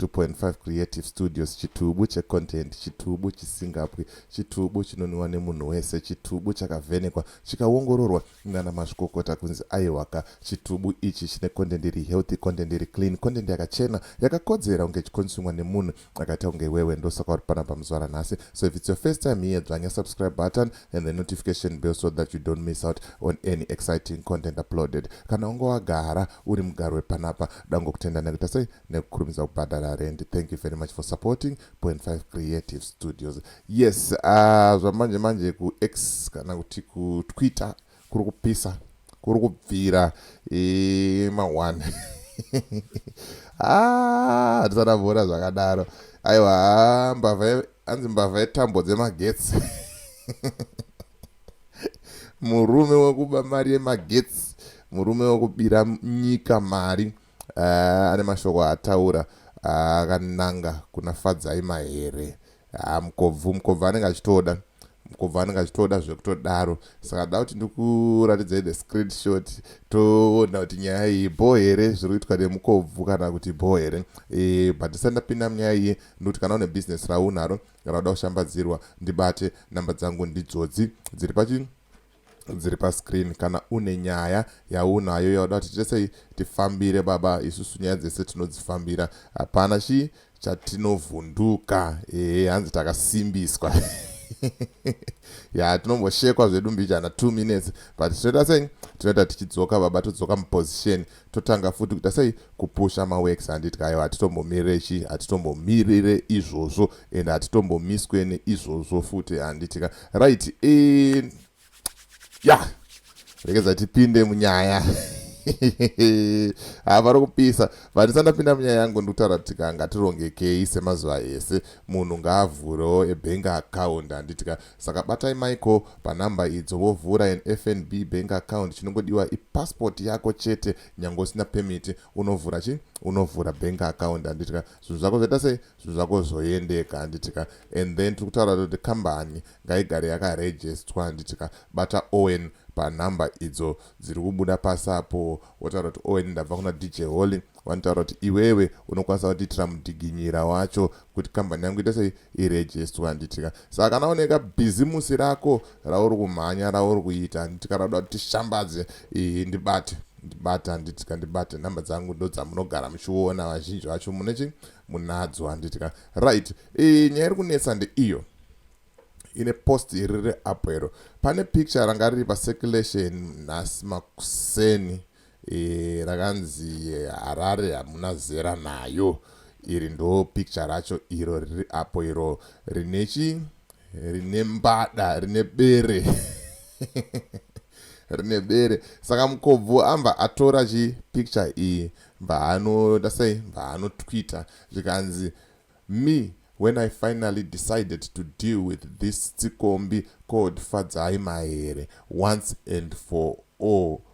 2.5 Creative Studios Chitubu cheContent Chitubu chisingapwi Chitubu chinonwiwa nemunhu wese Chitubu chakavhenekwa chikawongororwa nana mazvikokota kunzi aiwaka Chitubu ichi chine content iri healthy content iri clean content yakachena yakakodzera kunge ichikonsumwa nemunhu akaita kunge iwewe ndosaka uri panapa muzuva ranhasi so if it's your first time here dzvanya subscribe button and the notification bell so that you don't miss out on any exciting content uploaded kana unge wagara uri mugaro wepanapa dangokutenda nekuita sei nekukurumidza kubhadhara rendi thank you very much for supporting point five creative studios yes uh, zvamanje manje kuex kana kuti kutwitter kuri kupisa kuri kubvira e, maone ah, handisada vona zvakadaro aiwa ah, mbavha anzi mbavha yetambo dzemagetsi murume wekuba mari yemagetsi murume wekubira nyika mari Haa ane mashoko aataura akananga kuna Fadzai Mahere. Haa mukobvu mukobvu anenge achitoda mukobvu anenge achitoda zvekutodaro saka da kuti ndikuratidzai the screenshot toona kuti nyaya iyi bho here zviri kuitwa nemukobvu kana kuti bho here e, but ndisati ndapinda munyaya iyi ndikuti kana une business raunaro rauda kushambadzirwa ndibate namba dzangu ndidzodzi dziri pachi dziri pascreen kana une nyaya yaunayo yauda kuti tesei tifambire baba isusu nyaya dzese tinodzifambira hapana chii chatinovhunduka ehe hanzi takasimbiswa ya tinomboshekwa zvedu mbijana two minutes but tinoita sei tinoita tichidzoka baba todzoka muposition totanga futi kuita sei kupusha maworks handiti kayo hatitombomirire chi hatitombomirire izvozvo and hatitombomiswe neizvozvo futi handiti ka right e eh, ya yeah. regedza tipinde munyaya ha vari kupisa but ndisati ndapinda munyaya yangu ndikutaura kuti ka ngatirongekei semazuva ese munhu ngaavhurewo ebhengi akaunda handitika Saka batai Michael panumber idzo wovhura an FNB bank account chinongodiwa ipassport yako chete nyange usina permit unovhura chi unovhura bank account handitika zvinhu zvako zvaita sei zvinhu zvako zvoendeka handitika and then tiri kutaura kuti kambani ngaigare yakaregistwa handitika bata Owen panumber idzo dziri kubuda pasi apo wotaura kuti owen ndabva kuna dj holy vanotaura kuti iwewe unokwanisa kutiitira mudhiginyira wacho kuti kambani yangu ita sei irejestwa handitika saka kana oneka bhizimusi rako rauri kumhanya rauri kuita handitika rauda kuti tishambadze iyi ndibate ndibate handitika ndibate nhamba dzangu ndo dzamunogara muchiona vazhinji vacho munechi munadzo handitika right nyaya iri kunetsa ndeiyo ine post iri reapp iro pane picture ranga riri pacirculation nhasi makuseni e, rakanzi eh, harare hamuna zera nayo iri ndo picture racho iro riri apo iro rine chi rine mbada rine bere rine bere saka mukobvu amba atora chi picture iyi mbaanoda sei mbaanotwitter zvikanzi Me, When I finally decided to deal with this tsikombi called Fadzai Mahere once and for all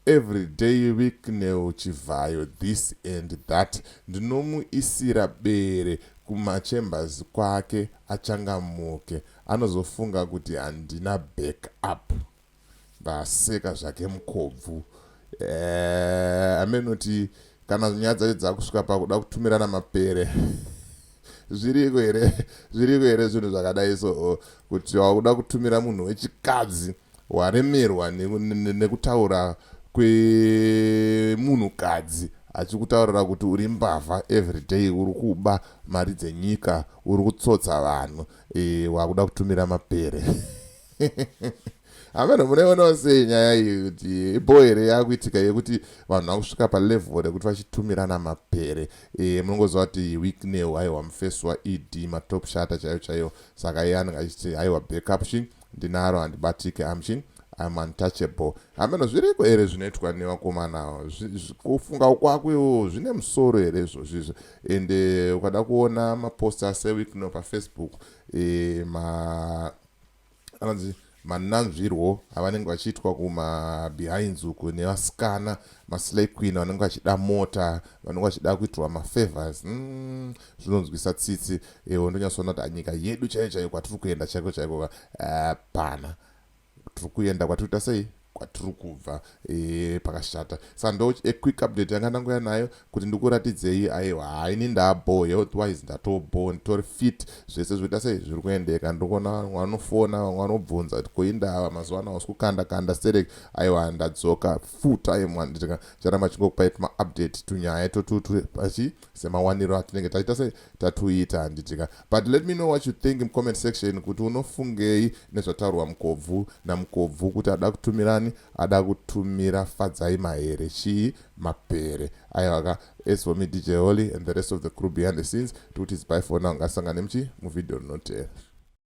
everyday Bicknell Chivhayo this and that ndinomuisira bere kumachambers kwake achangamuke anozofunga kuti handina back up. Aseka zvake mukobvu. Eh, amenoti kana nyaya dzacho dzakusvika pakuda kutumirana mapere zviriko here zviriko here zvinhu zvakadai so oh, kuti wakuda kutumira munhu wechikadzi waremerwa nekutaura kwemunhukadzi achikutaurira kuti uri mbavha everyday uri kuba mari dzenyika uri kutsotsa vanhu e, wakuda kutumira mapere hameno munoionawo sei nyaya iyi kuti ibho here yakuitika yekuti vanhu vakusvika palevel rekuti vachitumirana mapere e, munongoziva kuti weeknew aiwa mufesi waed matop shata chaiyo chaiyo saka iye anenge achiti aiwa backup shin ndinaro handibatike amshin I'm untouchable hameno zviriko here zvinoitwa nevakomana kufunga ukwako iwo zvine musoro here izvozvizvo ende ukada kuona mapost aseweekno pafacebook e, ma anonzi mananzvirwo avanenge vachiitwa kumabehinds uku nevasikana maslay queen vanenge vachida mota vanenge vachida kuitirwa mafavors mm, zvinonzwisa tsitsi ewo ndonyatsoona kuti nyika yedu chaiyo chaiyo kwatiri kuenda chaiko chaiko hapana tiri kuenda kwatiri kuita sei kwatiri kubva ee pakashata sandoch a quick update yanga ndanguya nayo kuti ndikuratidzei aiwa haa ini ndabho health wise ndatobho nditori fit zvese zvoita sei zviri kuendeka ndikuona vamwe vanofona vamwe vanobvunza kuti koindava mazuva ano hausi kukanda kanda sterek aiwa ndadzoka full time wanditika charamba chingokupai tuma update tunyaya totutu pachi semawaniro atinenge taita se tatuita handitika but let me know what you think mucomment section kuti unofungei nezvataurwa mukobvu namukobvu kuti ada kutumirani ada kutumira fadzai mahere chii mapere aivaka as for me dj holy and the rest of the crew behind the scenes tikuti zibai fona ungasangane muchi muvhidhiyo rinoteera